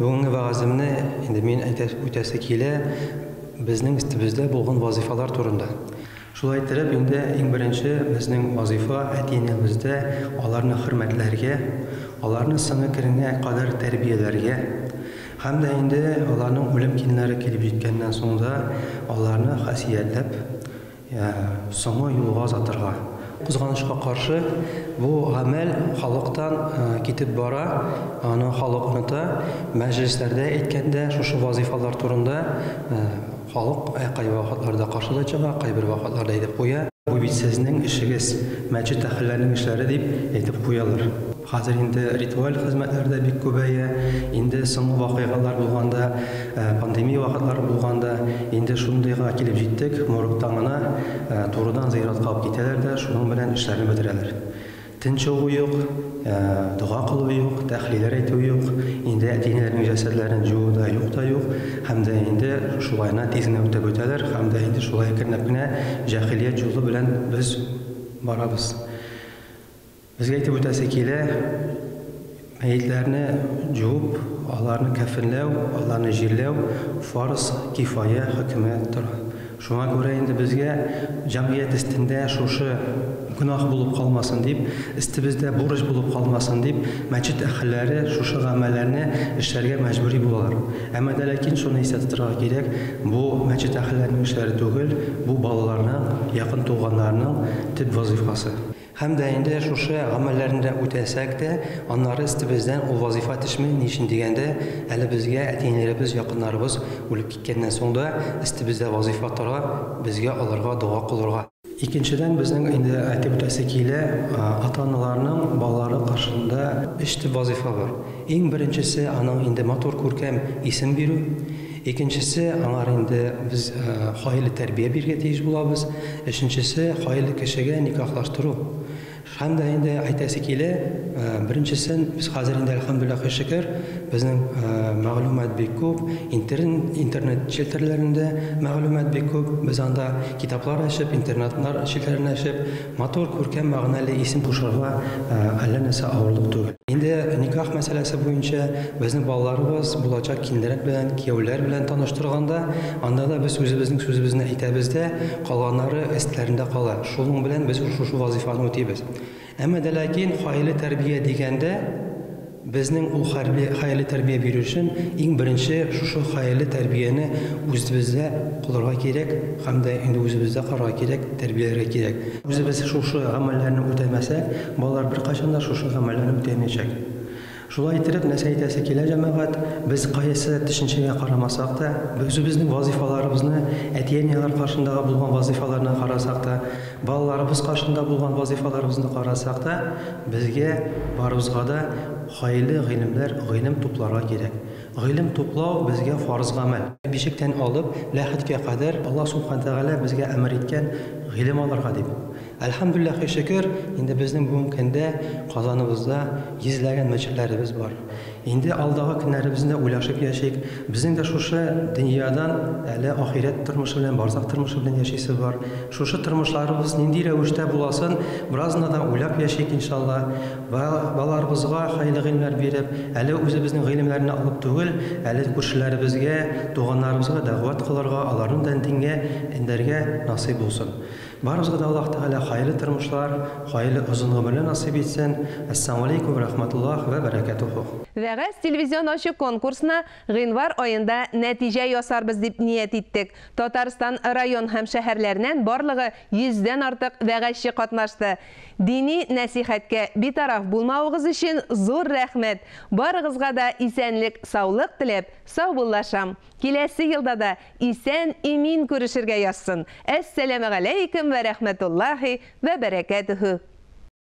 Бүгенге вәгаземне инде мин әйтәс үтәсе килә безнең истебездә булган вазифалар турында. Шулай иттереп, инде иң беренче безнең вазифа әти-әнибездә аларны хөрмәтләргә, аларны сыны керенә кадәр тәрбияләргә һәм дә инде аларның үлем кинләре килеп җиткәннән соң да аларны хасиятләп, Соңгы юлга озатырга. Кызганычка каршы, бу гамәл халыктан китеп бара, аны халык оныта. Мәҗлесләрдә әйткәндә, шушы вазыйфалар турында халык кайбер вакытларда каршы да чыга, кайбер вакытларда әйтеп куя. Бу бит сезнең эшегез, мәчет әһелләренең эшләре, дип әйтеп куялар. Хәзер инде ритуаль хезмәтләр дә бик күбәя. Инде соңгы вакыйгалар булганда, пандемия вакытлары булганда, инде шундыйга килеп җиттек, моргтан гына турыдан зыяратка алып китәләр дә шуның белән эшләрне бетерәләр. Тын чыгу юк, дога кылу юк, тәхлиләр әйтү юк, инде әти-әниләрнең җәсәдләрен җуу да юк та юк һәм дә инде шулай гына тиз генә үтеп үтәләр һәм дә инде шулай әкренләп кенә җәһилият җулы белән без барабыз. Безгә әйтеп үтәсе килә, мәетләрне җуып, аларны кәфенләү, аларны җирләү фарз кифая хөкеме тора. Шуңа күрә инде безгә, җәмгыять өстендә шушы гөнаһ булып калмасын дип, өстебездә бурыч булып калмасын дип, мәчет әһелләре шушы гамәлләрне эшләргә мәҗбүри булалар. Әмма дә ләкин шуны истә тотарга кирәк, бу мәчет әһелләренең эшләре түгел, бу балаларның, якын туганнарның төп вазыйфасы. Һәм дә инде шушы гамәлләрне дә үтәсәк тә, аннары өстебездән ул вазыйфа төшми, ни өчен дигәндә, әле безгә әти-әниләребез, якыннарыбыз үлеп киткәннән соң да өстебездә вазыйфа тора, безгә аларга дога кылырга. Икенчедән, безнең инде әйтеп үтәсе килә, ата-аналарның балалары каршында өч төп вазыйфа бар. Иң беренчесе, аның инде матур, күркәм исем бирү. Икенчесе, аңар инде без хаиле тәрбия бирергә тиеш булабыз. Өченчесе, хаиле кешегә никахлаштыру. Һәм дә инде әйтәсе килә, беренчесен без хәзер инде, әлхәмдүлилләһ, һәр шөкер, безнең мәгълүмат бик күп, интернет челтәрләрендә мәгълүмат бик күп, без анда китаплар ачып, интернетлар челтәрләрен ачып, Матур, күркәм, мәгънәле исем кушырга әллә нәрсә авырлык түгел. Инде никах мәсьәләсе буенча безнең балаларыбыз булачак киленрәк белән, кияүләр белән таныштырганда, анда да без үзебезнең сүзебезне әйтәбез дә, калганнары эстләрендә кала. Шуның белән без шушы вазыйфаны үтибез. Әмма дә ләкин гаилә тәрбия дигәндә, Безнең ул хәрби хәерле тәрбия бирү өчен иң беренче шушы хәерле тәрбияне үзебездә кылырга кирәк һәм дә инде үзебездә карарга кирәк, тәрбияләргә кирәк. Үзебез шушы гамәлләрне үтәмәсәк, балалар беркайчан да шушы гамәлләрне үтәмәячәк. Шулай иттереп, нәрсә әйтәсе килә, җәмәгать, без кайсы төшенчәгә карамасак та, үзебезнең вазыйфаларыбызны, әти-әниләр каршындагы булган вазыйфаларны карасак та, Балаларыбыз каршында булган вазыйфаларыбызны карасак та, безгә барыбызга да хайле гыйлемләр, гыйлем тупларга кирәк. Гыйлем туплау безгә фарыз гамәл. Бишектән алып ләхеткә кадәр Аллаһ Сүбхәнә Тәгалә безгә әмер иткән гыйлем алырга дип. Әлхәмдүлләхи шөкер, инде безнең бүгенге көндә Казаныбызда йөзләгән мәчетләребез бар. Инде алдагы көннәребезне уйлашып яшик. Безнең дә шушы дөньядан әле ахирәт тормышы белән, барзах тормышы белән яшисе бар. Шушы тормышларыбыз нинди рәвештә буласын бераз гына да уйлап яшик, иншалла. Ба, балаларыбызга хәерле гыйлемнәр биреп, әле үзебезнең гыйлемнәрне алып түгел, әле күршеләребезгә, туганнарыбызга дәгъват кылырга, аларны да дингә эндәргә насыйп булсын. Барыбызга да Аллаһ Тәгалә хаерле тормышлар, хаерле озын гомерләр насыйп итсен. Әссәламалейкүм рәхмәтуллаһ вә бәрәкәтүһү. Вәгазь телевизион ачык конкурсына гыйнвар аенда нәтиҗә ясарбыз дип ният иттек. Татарстан район һәм шәһәрләреннән барлыгы йөздән артык вәгазьче катнашты. Дини нәсыйхәткә битараф булмавыгыз өчен зур рәхмәт! Барыгызга да исәнлек, саулык теләп, саубуллашам. Киләсе елда да Исән, имин күрешергә язсын. Әссәләмәгаләйкем вә рәхмәтуллаһи вә бәрәкәтүһү.